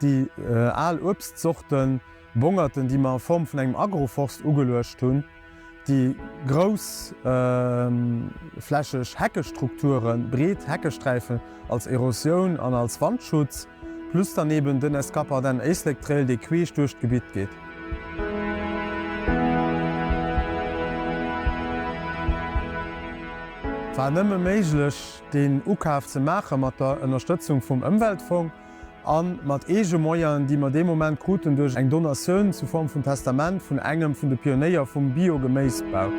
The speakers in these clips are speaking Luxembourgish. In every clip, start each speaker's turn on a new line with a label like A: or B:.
A: Déi al Uebstzorten, Bongerten, déi mer a Form vun engem Agroforst ugeluecht hunn, déi groussflächeg Heckestrukturen, breet Heckesträifen als Erosioun an als Wandschutz, plus dann eben den Escaparden Éislek Trail, dee queesch duerch d'Gebitt geet. War nëmme méiglech, deen Ukaf ze maache mat der Ënnerstëtzung vum Ëmweltfong. a mat eege Moyenen, déi mer dee Moment kruten duerch eng Donatioun zu Form vun Testament vun engem vun de Pionéier vum Bio-Geméisbau.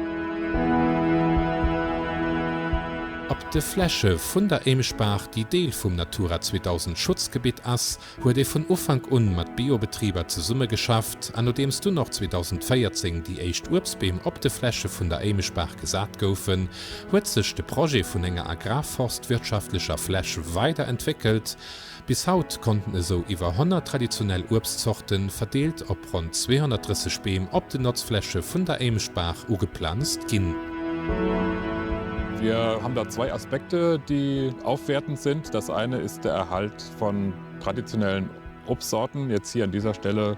B: Op de Fläche vun der Émesbaach, déi Deel vum Natura 2000 Schutzgebitt ass, huet ee vun Ufank un mat Biobetriber zesummegeschafft, an nodeems dunn och 2014 déi éischt Uebstbeem op de Fläche vun der Émesbaach gesat goufen, huet sech de Projet vun enger agrarforstwirtschaftlecher Fläch weider entwéckelt. Bis haut konnten esou iwwer 100 traditionell Uebstzorte verdeelt op ronn 230 Beem op den Notzfläche vun der Éimechtbaach ugeplanzt ginn. Wir
C: haben da zwei Aspekte, die aufwertend sind. Das eine ist der Erhalt von traditionellen Obstsorten, jetzt hier an dieser Stelle,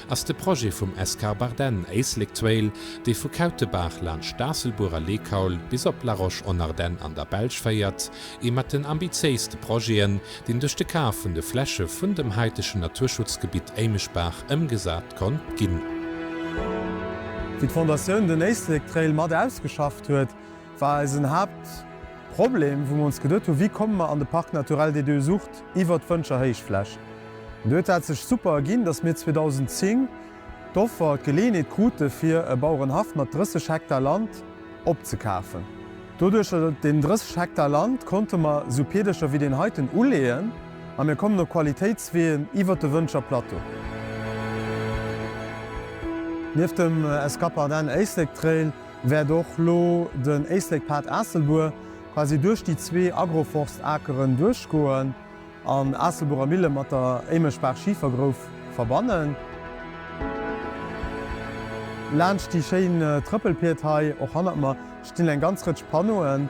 B: ass de Projet vum Escarbardenne Éislek Trail, dee vu Kautebaach laanscht Staasselbuer a Leekaul bis op La Roche-en-Ardenne an der Belsch féiert, ee mat den ambitiéiste Projeten, deen duerch de Kaf vun de Fläche vun dem haitegen Naturschutzgebitt Éimeschbaach ëmgesat konnt ginn.
A: Wéi d'Fondatioun den Éislek Trail mat ausgeschafft huet, war eisen Haaptproblem, wou mer ons geduet hunn, wéi komme mer an de Parc naturel des Deux Ourtes iwwert d'Wëntscher Héichfläch. An do huet dat sech super erginn, datt mir 2010 d'Offer, d'Geleeënheet krute fir e Bauerenhaff mat 30 Hektar Land opzekafen. Doduercher, deen 30 Hektar Land konnte mer esou Peedercher wéi deen heiten uleeën a mir kommen op Qualitéitsween iwwert de Wëntscher Plateau. Nieft dem Escapardenne Éislek Trail, wäert och elo den Éislek-Pad Aasselbuer quasi duerch déi zwee Agroforst-Akeren duerchgoen an Aasselbuerer Mille mat der Éimechbaach-Schifergrouf verbannen. Laanscht déi schéin Trëppelpied hei och hannert mer stinn eng ganz Rëtsch Panneauen.